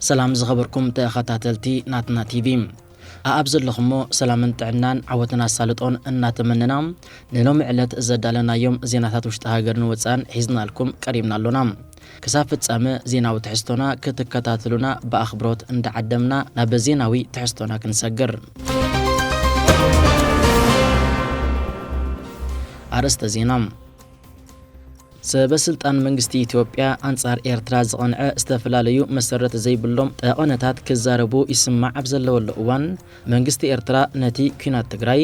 ሰላም ዝኸበርኩም ተኸታተልቲ ናትና ቲቪ ኣኣብ ዘለኹሞ ሰላምን ጥዕናን ዓወትን ኣሳልጦን እናተመነና ንሎሚ ዕለት ዘዳለናዮም ዜናታት ውሽጢ ሃገርን ወፃን ሒዝናልኩም ቀሪብና ኣሎና። ክሳብ ፍጻመ ዜናዊ ትሕዝቶና ክትከታተሉና ብኣኽብሮት እንዳዓደምና ናብ ዜናዊ ትሕዝቶና ክንሰግር። ኣርእስተ ዜና፣ ሰበስልጣን መንግስቲ ኢትዮጵያ ኣንጻር ኤርትራ ዝቐንዐ ዝተፈላለዩ መሰረት ዘይብሎም ጠቐነታት ክዛረቡ ይስማዕ ኣብ ዘለወሉ እዋን፣ መንግስቲ ኤርትራ ነቲ ኲናት ትግራይ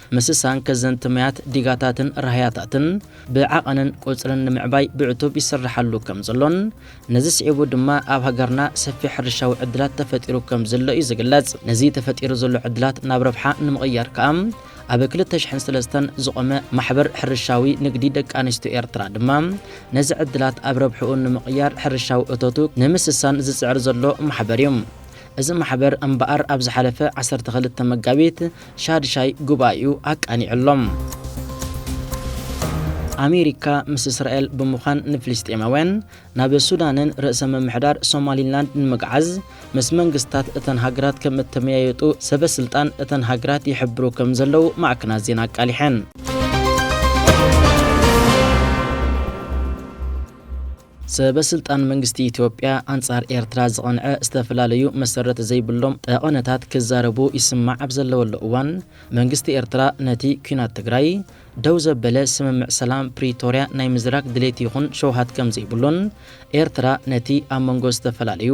ምስሳን ከዘንቲ ማያት ዲጋታትን ራህያታትን ብዓቐንን ቁጽርን ንምዕባይ ብዕቱብ ይስራሓሉ ከም ዘሎን ነዚ ስዒቡ ድማ ኣብ ሃገርና ሰፊሕ ሕርሻዊ ዕድላት ተፈጢሩ ከም ዘሎ እዩ ዝግለጽ። ነዚ ተፈጢሩ ዘሎ ዕድላት ናብ ረብሓ ንምቕያር ከኣ ኣብ ክልተ ሽሕን ሰለስተን ዝቖመ ማሕበር ሕርሻዊ ንግዲ ደቂ ኣንስትዮ ኤርትራ ድማ ነዚ ዕድላት ኣብ ረብሕኡ ንምቕያር ሕርሻዊ እቶቱ ንምስሳን ዝጽዕር ዘሎ ማሕበር እዩ። እዚ ማሕበር እምበኣር ኣብ ዝሓለፈ ዓሰርተ ክልተ መጋቢት ሻድሻይ ጉባኤኡ ኣቃኒዑ'ሎ። ኣሜሪካ ምስ እስራኤል ብምዃን ንፍልስጤማውያን ናብ ሱዳንን ርእሰ ምምሕዳር ሶማሊላንድ ንምግዓዝ ምስ መንግስታት እተን ሃገራት ከም እተመያየጡ ሰበ ስልጣን እተን ሃገራት ይሕብሩ ከም ዘለዉ ማዕከናት ዜና ኣቃሊሐን። ሰበስልጣን መንግስቲ ኢትዮጵያ ኣንጻር ኤርትራ ዝቐንዐ ዝተፈላለዩ መሰረት ዘይብሎም ጠቐነታት ክዛረቡ ይስማዕ ኣብ ዘለወሉ እዋን፣ መንግስቲ ኤርትራ ነቲ ኲናት ትግራይ ደው ዘበለ ስምምዕ ሰላም ፕሪቶርያ ናይ ምዝራግ ድሌት ይኹን ሸውሃት ከምዘይብሉን ኤርትራ ነቲ ኣብ መንጎ ዝተፈላለዩ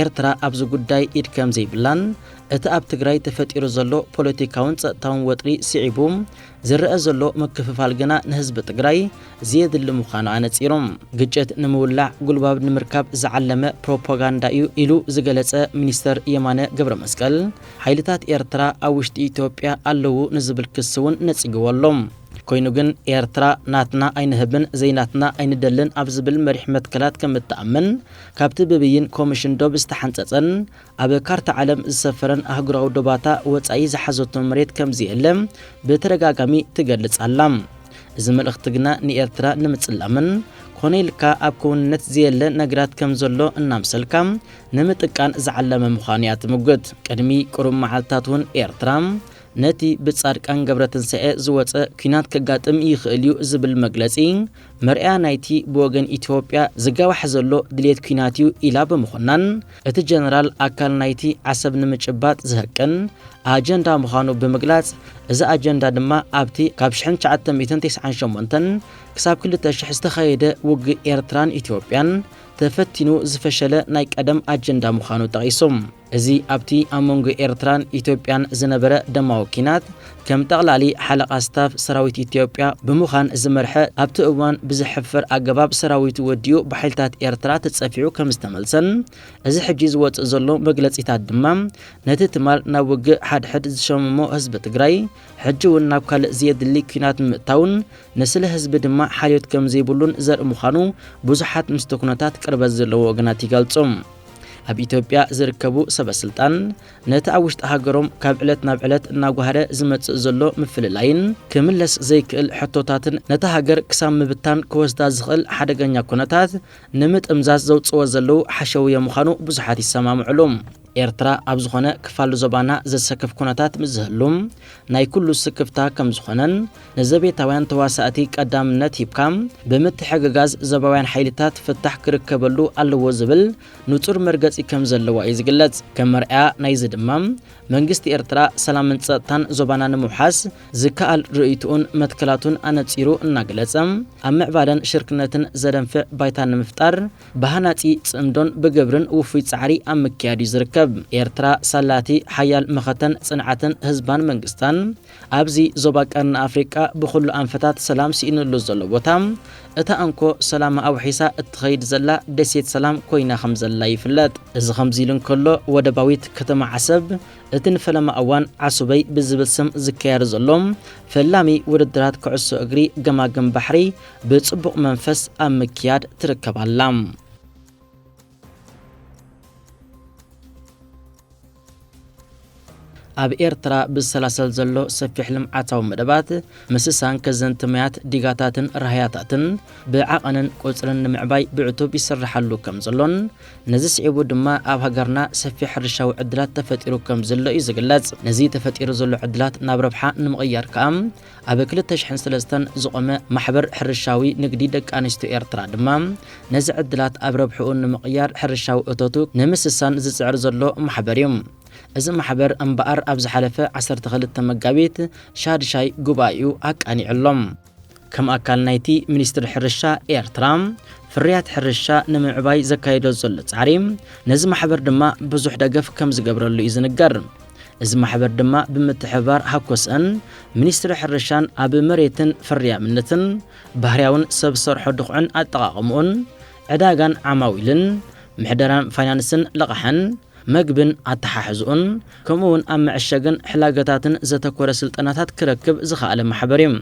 ኤርትራ ኣብዚ ጉዳይ ኢድ ከምዘይብላን እቲ ኣብ ትግራይ ተፈጢሩ ዘሎ ፖለቲካውን ጸጥታውን ወጥሪ ስዒቡ ዝረኣ ዘሎ ምክፍፋል ግና ንህዝቢ ትግራይ ዘየድሊ ምዃኑ ኣነጺሩ ግጭት ንምውላዕ ጉልባብ ንምርካብ ዝዓለመ ፕሮፓጋንዳ እዩ ኢሉ ዝገለጸ ሚኒስተር የማነ ገብረመስቀል፣ ሓይልታት ኤርትራ ኣብ ውሽጢ ኢትዮጵያ ኣለዉ ንዝብል ክሲ እውን ነጺግዎ ኣሎ። ኮይኑ ግን ኤርትራ ናትና ኣይንህብን ዘይናትና ኣይንደልን ኣብ ዝብል መሪሕ መትከላት ከምእትኣምን ካብቲ ብብይን ኮሚሽን ዶብ ዝተሓንጸጸን ኣብ ካርታ ዓለም ዝሰፈረን ኣህጉራዊ ዶባታ ወጻኢ ዝሓዘቶ መሬት ከምዘየለ ብተደጋጋሚ ትገልጽ ኣላ። እዚ መልእኽቲ ግና ንኤርትራ ንምጽላምን ኮነ ኢልካ ኣብ ክውንነት ዘየለ ነገራት ከም ዘሎ እናምሰልካ ንምጥቃን ዝዓለመ ምዃኑ እያ ትምጉት። ቅድሚ ቅሩብ መዓልትታት እውን ኤርትራ ነቲ ብጻድቃን ገብረትንሳኤ ዝወጸ ኲናት ከጋጥም ይኽእል እዩ ዝብል መግለጺ መርኣያ ናይቲ ብወገን ኢትዮጵያ ዝጋዋሕ ዘሎ ድልየት ኲናት'ዩ ኢላ ብምኹናን፣ እቲ ጀነራል ኣካል ናይቲ ዓሰብ ንምጭባጥ ዝህቅን ኣጀንዳ ምዃኑ ብምግላጽ፣ እዚ ኣጀንዳ ድማ ኣብቲ ካብ ሽሕን ትሽዓተ ሚእትን ተስዓን ሸሞንተን ክሳብ ክልተ ሽሕ ዝተኻየደ ውግእ ኤርትራን ኢትዮጵያን ተፈቲኑ ዝፈሸለ ናይ ቀደም ኣጀንዳ ምዃኑ ጠቒሱ። እዚ ኣብቲ ኣብ መንጎ ኤርትራን ኢትዮጵያን ዝነበረ ደማዊ ኲናት ከም ጠቕላሊ ሓለቓ ስታፍ ሰራዊት ኢትዮጵያ ብምዃን ዝመርሐ ኣብቲ እዋን ብዘሕፍር ኣገባብ ሰራዊቱ ወዲኡ ብሓይልታት ኤርትራ ተጸፊዑ ከም ዝተመልሰን እዚ ሕጂ ዝወጽእ ዘሎ መግለጺታት ድማ ነቲ ትማል ናብ ውግእ ሓድሕድ ዝሸመሞ ህዝቢ ትግራይ ሕጂ'ውን ናብ ካልእ ዘየድሊ ኲናት ንምእታውን ንስለ ህዝቢ ድማ ሓልዮት ከም ዘይብሉን ዘርኢ ምዃኑ ብዙሓት ምስቲ ኩነታት ቅርበት ዘለዎም ወገናት ይገልጹ። ኣብ ኢትዮጵያ ዝርከቡ ሰበስልጣን ነቲ ኣብ ውሽጢ ሃገሮም ካብ ዕለት ናብ ዕለት እናጓሃረ ዝመጽእ ዘሎ ምፍልላይን ክምለስ ዘይክእል ሕቶታትን ነታ ሃገር ክሳብ ምብታን ክወስዳ ዝኽእል ሓደገኛ ኩነታት ንምጥምዛዝ ዘውጽእዎ ዘለዉ ሓሸውየ ምዃኑ ብዙሓት ይሰማምዕሉ። ኤርትራ ኣብ ዝኾነ ክፋል ዞባና ዘሰክፍ ኩነታት ምስ ዝህሉ ናይ ኩሉ ስክፍታ ከም ዝኾነን ንዘቤታውያን ተዋሳእቲ ቀዳምነት ሂብካ፣ ብምትሕግጋዝ ዞባውያን ሓይልታት ፍታሕ ክርከበሉ ኣለዎ ዝብል ንጹር መርገጺ ከም ዘለዋ እዩ ዝግለጽ። ከም መርኣያ ናይዚ ድማ፣ መንግስቲ ኤርትራ ሰላምን ጸጥታን ዞባና ንምውሓስ ዝከኣል ርእይትኡን መትከላቱን ኣነጺሩ እናገለጸ፣ ኣብ ምዕባለን ሽርክነትን ዘደንፍዕ ባይታ ንምፍጣር ብሃናጺ ጽምዶን ብግብርን ውፉይ ጻዕሪ ኣብ ምክያድ እዩ ዝርከብ። ኤርትራ ሳላ'ቲ ሓያል መኸተን ጽንዓትን ህዝባን መንግስታን፣ ኣብዚ ዞባ ቀርኒ ኣፍሪቃ ብኹሉ ኣንፈታት ሰላም ስኢንሉ ዘሎ ቦታ፣ እታ እንኮ ሰላማ ኣውሒሳ እትኸይድ ዘላ ደሴት ሰላም ኮይና ከምዘላ ይፍለጥ። እዚ ከምዚሉ እንከሎ፣ ወደባዊት ከተማ ዓሰብ እቲ ንፈለማ እዋን ዓሱበይ ብዝብል ስም ዝካየድ ዘሎ ፈላሚ ውድድራት ኩዕሶ እግሪ ገማግም ባሕሪ ብጽቡቕ መንፈስ ኣብ ምክያድ ትርከብ ኣላ። ኣብ ኤርትራ ብዝሰላሰል ዘሎ ሰፊሕ ልምዓታዊ መደባት ምስሳን ከዘንቲ ማያት ዲጋታትን ራህያታትን ብዓቐንን ቁጽርን ንምዕባይ ብዕቱብ ይስራሓሉ ከም ዘሎን ነዚ ስዒቡ ድማ ኣብ ሃገርና ሰፊሕ ሕርሻዊ ዕድላት ተፈጢሩ ከም ዘሎ እዩ ዝግለጽ። ነዚ ተፈጢሩ ዘሎ ዕድላት ናብ ረብሓ ንምቕያር ከኣ ኣብ ክልተ ሽሕን ሰለስተን ዝቖመ ማሕበር ሕርሻዊ ንግዲ ደቂ ኣንስትዮ ኤርትራ ድማ፣ ነዚ ዕድላት ኣብ ረብሕኡ ንምቕያር ሕርሻዊ እቶቱ ንምስሳን ዝጽዕር ዘሎ ማሕበር እዩ። እዚ ማሕበር እምበኣር ኣብ ዝሓለፈ ዓሰርተ ክልተ መጋቢት ሻድሻይ ጉባኤኡ ኣቃኒዑ ኣሎ። ከም ኣካል ናይቲ ሚኒስትሪ ሕርሻ ኤርትራ ፍርያት ሕርሻ ንምምዕባይ ዘካይዶ ዘሎ ጻዕሪ፣ ነዚ ማሕበር ድማ ብዙሕ ደገፍ ከም ዝገብረሉ እዩ ዝንገር። እዚ ማሕበር ድማ ብምትሕብባር ሃኮስእን ሚኒስትሪ ሕርሻን ኣብ መሬትን ፍርያምነትን፣ ባህርያውን ሰብ ሰርሖ ድኹዕን ኣጠቓቕምኡን፣ ዕዳጋን ዓማዊልን፣ ምሕደራን ፋይናንስን ልቓሕን መግብን ኣተሓሕዝኡን፣ ከምኡ'ውን ኣብ መዐሸግን ሕላገታትን ዘተኮረ ስልጠናታት ክረክብ ዝኸኣለ ማሕበር እዩ።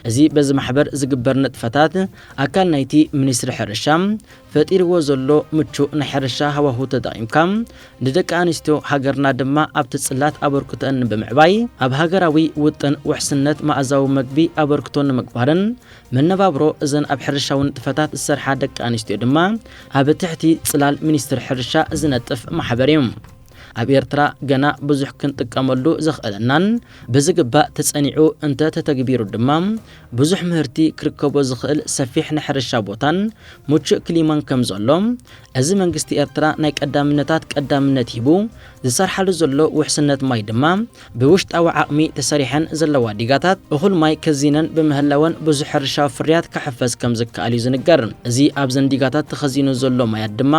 እዚ በዚ ማሕበር ዝግበር ንጥፈታት ኣካል ናይቲ ሚኒስትሪ ሕርሻ፣ ፈጢርዎ ዘሎ ምቹእ ናይ ሕርሻ ሃዋሁ ተጠቒምካ ንደቂ ኣንስትዮ ሃገርና ድማ ኣብቲ ጽላት ኣበርክቶኣን ብምዕባይ ኣብ ሃገራዊ ውጥን ውሕስነት መኣዛዊ መግቢ ኣበርክቶ ንምግባርን መነባብሮ እዘን ኣብ ሕርሻዊ ንጥፈታት ዝሰርሓ ደቂ ኣንስትዮ ድማ ኣብ ትሕቲ ጽላል ሚኒስትሪ ሕርሻ ዝነጥፍ ማሕበር እዩ። ኣብ ኤርትራ ገና ብዙሕ ክንጥቀመሉ ዘኽእለናን ብዝግባእ ተጸኒዑ እንተ ተተግቢሩ ድማ ብዙሕ ምህርቲ ክርከቦ ዝኽእል ሰፊሕ ናይ ሕርሻ ቦታን ምቹእ ክሊማን ከም ዘሎ እዚ መንግስቲ ኤርትራ ናይ ቀዳምነታት ቀዳምነት ሂቡ ዝሰርሓሉ ዘሎ ውሕስነት ማይ ድማ ብውሽጣዊ ዓቕሚ ተሰሪሐን ዘለዋ ዲጋታት እኹል ማይ ከዚነን ብምህላወን ብዙሕ ሕርሻዊ ፍርያት ክሕፈስ ከም ዝከኣል እዩ ዝንገር። እዚ ኣብዘን ዲጋታት ተኸዚኑ ዘሎ ማያት ድማ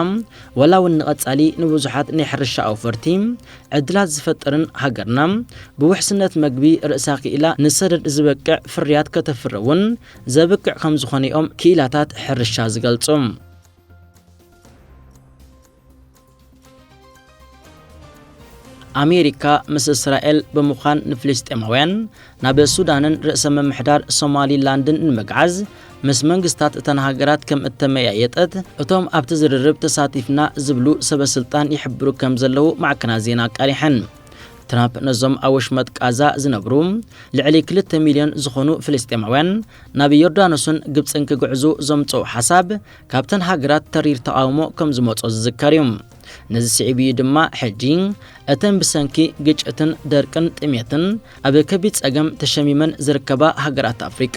ወላ ውን ንቐፃሊ ንብዙሓት ናይ ሕርሻ ኣውፈርቲ ዕድላት ዝፈጥርን ሃገርና ብውሕስነት መግቢ ርእሳ ክኢላ ንሰደድ ዝበቅዕ ፍርያት ከተፍሪ ውን ዘብቅዕ ከምዝኾነ ዮም ክኢላታት ሕርሻ ዝገልፁ። ኣሜሪካ ምስ እስራኤል ብምዃን ንፍልስጤማውያን ናብ ሱዳንን ርእሰ ምምሕዳር ሶማሊ ላንድን ንምግዓዝ ምስ መንግስታት እተን ሃገራት ከም እተመያየጠት እቶም ኣብቲ ዝርርብ ተሳቲፍና ዝብሉ ሰበ ስልጣን ይሕብሩ ከም ዘለዉ ማዕከናት ዜና ኣቃሊሐን። ትራምፕ ነዞም ኣብ ወሽመጥ ቃዛ ዝነብሩ ልዕሊ ክልተ ሚልዮን ዝኾኑ ፍልስጤማውያን ናብ ዮርዳኖስን ግብጽን ክግዕዙ ዘምጽኦ ሓሳብ ካብተን ሃገራት ተሪር ተቓውሞ ከም ዝመጾ ዝዝከር እዩ። ነዚ ስዒቡ እዩ ድማ ሕጂ እተን ብሰንኪ ግጭትን ደርቅን ጥሜትን ኣብ ከቢድ ጸገም ተሸሚመን ዝርከባ ሃገራት ኣፍሪቃ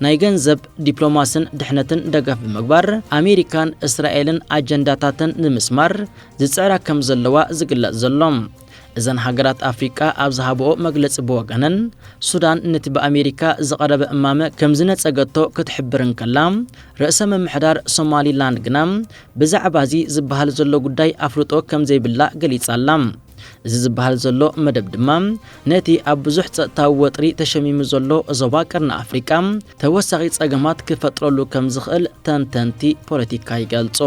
ናይ ገንዘብ ዲፕሎማስን ድሕነትን ደገፍ ብምግባር ኣሜሪካን እስራኤልን ኣጀንዳታተን ንምስማር ዝጽዕራ ከም ዘለዋ ዝግለጽ ዘሎ እዘን ሃገራት ኣፍሪቃ ኣብ ዝሃብኦ መግለጺ ብወገነን ሱዳን ነቲ ብኣሜሪካ ዝቐረበ እማመ ከም ዝነጸገቶ ክትሕብር እንከላ ርእሰ ምምሕዳር ሶማሊላንድ ግና ብዛዕባ'ዚ ዝበሃል ዘሎ ጉዳይ ኣፍልጦ ከም ዘይብላ ገሊጻ ኣላ። እዚ ዝበሃል ዘሎ መደብ ድማ፣ ነቲ ኣብ ብዙሕ ጸጥታዊ ወጥሪ ተሸሚሙ ዘሎ ዞባ ቀርኒ ኣፍሪቃ ተወሳኺ ጸገማት ክፈጥረሉ ከም ዝኽእል ተንተንቲ ፖለቲካ ይገልጹ።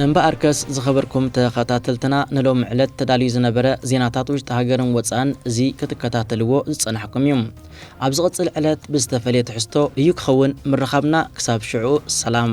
እምበኣርከስ ዝኸበርኩም ተኸታተልትና ንሎሚ ዕለት ተዳልዩ ዝነበረ ዜናታት ውሽጢ ሃገርን ወጻእን እዚ ክትከታተልዎ ዝጸናሕኩም እዩ። ኣብ ዝቕጽል ዕለት ብዝተፈልየ ትሕዝቶ እዩ ክኸውን ምርኻብና ክሳብ ሽዑ ሰላም።